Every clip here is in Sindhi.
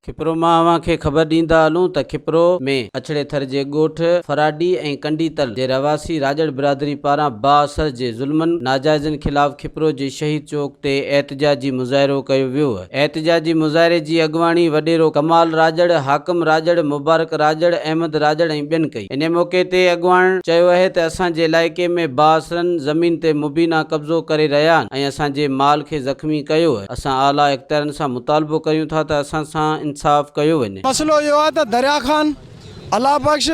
کپرو مان اوهان کي خبر ڏيندا هلون ته کپرو ۾ اڇڙي ٿر جي ڳوٺ فراڊي ۽ ڪنڊي تل جي رهواسي راڄڙ برادري پاران بااثر جي ظلمن ناجائزن خلاف کپرو جي شهيد چوڪ تي احتجاجي مظاهرو ڪيو ويو. احتجاجي مظاهري جي اڳواڻي وڏيرو ڪمال راڄڙ، حاڪم راڄڙ، مبارڪ راڄڙ، احمد راڄڙ ۽ ٻين ڪئي. انهي موقعي تي اڳواڻن چيو اهي ته اسان جي علائقي ۾ بااثرن زمين تي مبينا قبضو ڪري رهيا آهن ۽ اسان جي مال کي زخمي ڪيو اهي، اسان اعليٰ اختيارن سان مطالبو ڪريون ٿا ته اسان سان انصاف ڪيو وڃي. مسئلو اهو آهي ته دريا خان، الله بخش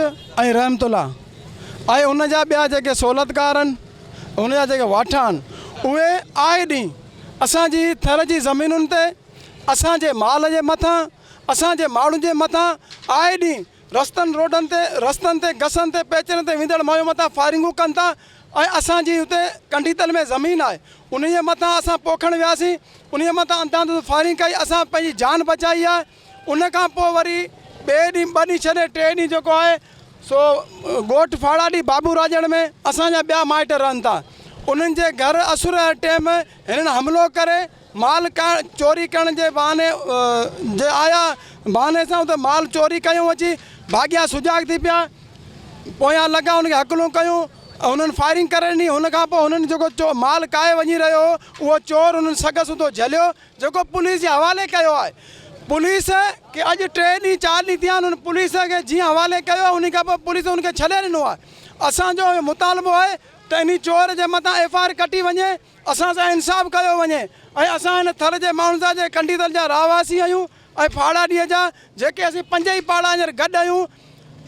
۽ رحمت الله ۽ ان جا ٻيا جيڪي سهولتڪار آهن، ان جا جيڪي واٺا آهن، اهي آئي ڏينهن، اسان جي ٿر جي زمينن تي، اسان جي مال جي مٿان، اسان جي ماڻهن جي مٿان آء ڏينهن رستن روڊن تي، رستن تي گسن تي پيچرن تي ويندڙ مايون مٿان فائرنگون ڪن ٿا ۽ اسان جي اتي ڪنڊيتل ۾ زمين آهي انهيء مٿان اسان پوکڻ وياسين انهيء مٿان انداڌوند فائرنگ ڪئي اسان پنهنجي جان بچائي آهي. ان کان پوء وري ٻئي ڏينهن ٻه ڏينهن ڇڏي ٽئين ڏينهن جيڪو آهي سو ڳوٺ ڦاڙاڏي بابو راڄڻ ۾ اسان جا ٻيا مائٽ رهن ٿا انهن جي گهر اسر جي ٽيم هنن حملو ڪري مال چوري ڪرڻ جي بهاني جي آيا بهاني سان اتي مال چوري ڪيون اچي ڀاڳيا سجاڳ ٿي پيا پويان لڳا هن کي هڪلون ڪيون هنن فائرنگ ڪري ڏني هن کان پوء هنن جيڪو مال ڪاهي وڃي رهيو هو اهو چور هنن سگهه سوڌو جهليو جيڪو پوليس جي حوالي ڪيو آهي پوليس کي اڄ ٽي ڏينهن چار ڏينهن ٿيا آهن پوليس کي جيئن حوالي ڪيو آهي انهي کان پوء پوليس ان کي ڇڏي ڏنو آهي اسان جو اهو مطالبو آهي ته انهي چور جي مٿان ايف آء آر ڪٽي وڃي اسان سان انصاف ڪيو وڃي ۽ اسان هن ٿر جي ماڻهن سان جي ڪنڊيدل جا رهواسي آهيون ۽ ڦاڙهاڏيء جا جيڪي اسين پنج ئي پاڙا هينئر گڏ آهيون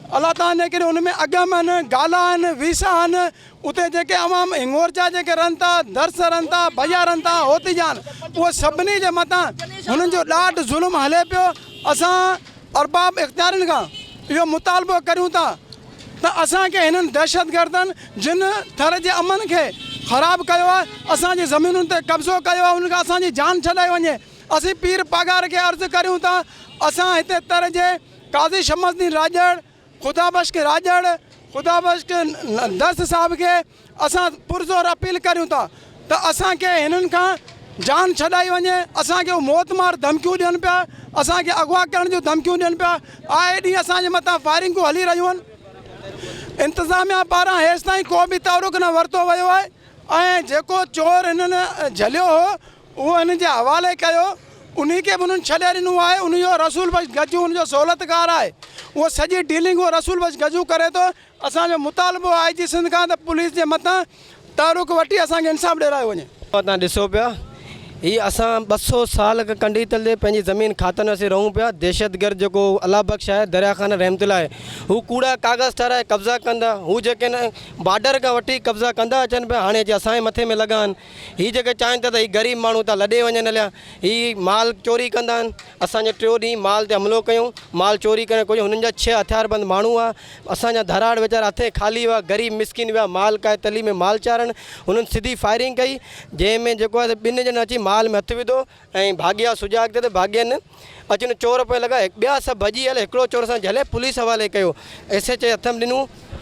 الله تعاليٰ ني ڪري ان ۾ اگم آهن، گالا آهن، ويسا آهن، اتي جيڪي عوام هڱور جا جيڪي رهن ٿا، درس رهن ٿا، ڀيا رهن ٿا، هوتي جا آهن، اهي سڀني جي مٿان هنن جو ڏاڍ ظلم هلي پيو، اسان ارباب اختيارين کان اهو مطالبو ڪريون ٿا ته اسان کي هنن دهشتگردن جن ٿر جي امن کي خراب ڪيو آهي، اسان جي زمينن تي قبضو ڪيو آهي انهن کان اسان جي جان ڇڏائي وڃي، اسين پير پاڳاري کي عرض ڪريون ٿا اسان هتي تر جي. قاضي شمس الدين راڄڙ، خدا بخش راڄڙ، خدا بخش درس صاحب کي اسان پرزور اپيل ڪريون ٿا ته اسان کي هنن کان جان ڇڏائي وڃي، اسان کي هو موت مار ڌمڪيون ڏين پيا، اسان کي اغوا ڪرڻ جون ڌمڪيون ڏين پيا، آئي ڏينهن اسان جي مٿان فائرنگون هلي رهيون آهن، انتظاميا پاران هيستائين ڪو به تحرڪ نه ورتو ويو آهي ۽ جيڪو چور هنن جهليو هو اهو هن جي حوالي ڪيو، انهي کي به انهن ڇڏي ڏنو آهي، انهي جو رسول بخش گجو ان جو سهولتڪار آهي، اهو سڄي ڊيلنگ اهو رسول بخش گجو ڪري ٿو، اسان جو مطالبو آء جي سنڌ کان ته پوليس جي مٿان تعرق وٺي اسان کي انصاف ڏيرايو وڃي. توهان ڏسو پيا هي اسان ٻه سئو سال کان ڪنڊي تلي پنهنجي زمين کاتن اسين رهون پيا دهشتگرد جيڪو الله بخش آهي دريا خان رحمت الله آهي هو ڪوڙا ڪاغذ ٺاراهي قبضا ڪندا هو جيڪي نه بارڊر کان وٺي قبضا ڪندا اچن پيا هاڻي اچي اسان جي مٿي ۾ لڳا آهن هي جيڪي چاهين ٿا ته هي غريب ماڻهو ته لڏي وڃن هليا هي مال چوري ڪندا آهن اسان جي ٽيو ڏينهن مال تي حملو ڪيون مال چوري ڪرڻ ڪجهه هنن جا ڇهه هٿيار بند ماڻهو هئا اسان جا ڌراڙ ويچارا هٿين خالي هئا غريب مسڪين ويا مال ڪاهي تلي ۾ مال چارڻ هنن سڌي فائرنگ ڪئي جنهن ۾ جيڪو آهي ٻن ڄڻن اچي مال ۾ هٿ وڌو ۽ ڀاڳيا سجا اڳتي ته ڀاڳين اچن چور پوئين لڳا ٻيا سڀ ڀڄي هلي هڪڙو چور اسان جهلي پوليس حوالي ڪيو ايس ايچ اي هٿ م ڏنو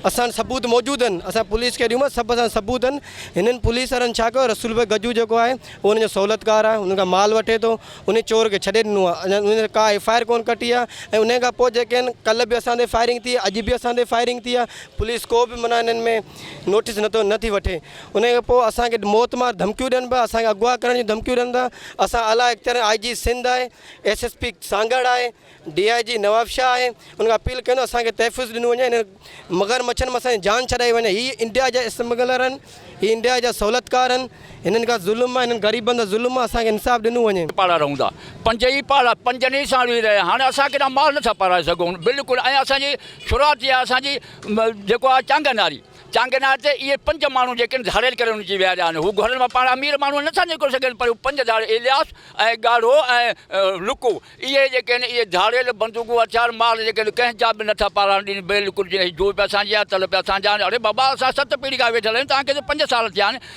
اسان وٽ ثبوت موجود آهن اسان پوليس کي ڏيون سڀ اسان ثبوت آهن هنن پوليس وارن ڇا ڪيو رسول بي گجو جيڪو آهي اهو هن جو سهولتڪار آهي هن کان مال وٺي ٿو انهي چور کي ڇڏي ڏنو آهي انهن تي ڪا ايف آء آر ڪون ڪٽي آهي ۽ انهي کان پوء جيڪي آهن ڪل به اسان تي فائرنگ ٿي اڄ به اسان تي فائرنگ ٿي آهي پوليس ڪو به معنيٰ انهن ۾ نوٽيس نٿو نٿي وٺي انهي کان پوء اسان کي موت مار ڌمڪيون ڏين پيا اسان کي اغوا ڪرڻ جون ڌمڪيون ڏين پيا اسان اعليٰ اختيارين آء جي سنڌ آهي ايس ايس پي سانگهڙ آهي ڊي آء جي نوابشاهه آهي انهن کي اپيل ڪيون ته اسان کي تحفظ ڏنو وڃي انهن مگر مڇن مان اسان جي جان ڇڏائي وڃي هي انڊيا جا اسمگلر آهن هي انڊيا جا سهولتڪار آهن هنن کان ظلم آهي هنن غريبن سان ظلم آهي اسان کي انصاف ڏنو وڃي. پاڙا رهون ٿا پنج ئي پاڙا پنجن ئي سان رهي رهيا آهن هاڻي اسان ڪيڏا مال نٿا پارائي سگهون بلڪل ۽ اسان جي شروعات ٿي آهي اسان جي جيڪو آهي چانگن واري چانگينار تي اهي پنج ماڻهو جيڪن ڌاڙيل ڪري ان جي ويا ويا آهن. هو گهرن مان پاڻ امير ماڻهو نه ٿا نڪري سگهن پر هو پنج ڌاڙيل الياس ۽ ڳاڙهو ۽ لڪو اهي جيڪي آهن اهي ڌاڙيل بندوقون هٿيار مال جيڪي آهن ڪنهن جا به نه ٿا پاراڻ ڏين بلڪل جيئن هي جوء پيا سانجهين ها تل پيا سانجهن آهن اڙي بابا اسان ست پيڙهي کان ويٺل آهيون توهان کي ته پنج سال ٿيا آهن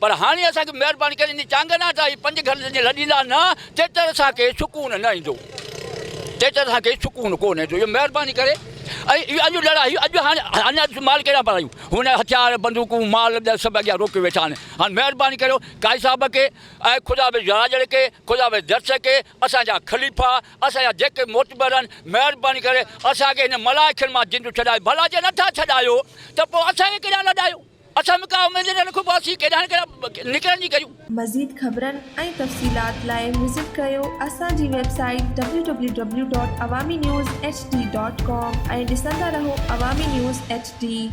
پر هاڻي اسان کي مهرباني ڪري انهي چانگنا تان هي پنج گهنٽ جي لڏيندا نه تيتر اسان کي سڪون نه ايندو تيتر اسان کي سڪون ڪونه ايندو اهو مهرباني ڪري ۽ اڄ لڙائي اڄ هاڻي اڃا مال ڪهڙا پرايون هن هٿيار بندوقون مال ڏه سڀ اڳيان روڪي ويٺا آهن هاڻي مهرباني ڪريو قائد صاحب کي ۽ خدا به راڄڙ کي خدا به درس کي اسان جا خليفا اسان جا جيڪي معتبر آهن مهرباني ڪري اسان کي هن ملائڪن مان جند ڇڏائي ڀلا جي نٿا ڇڏايو ته پوء اسان کي ڪيڏانهن لڏايو اسم ڪا اميدين نه رکون پاسي ڪيڏانهن ڪيڏانهن نڪرڻ جي ڪريون. مزيد خبرن ۽ تفصيلات لاء وزٽ ڪيو اسان جي website W W W dot Awami news H D dot com ۽ ڏسندا رهو عوامي نيوز ايڇ ڊي.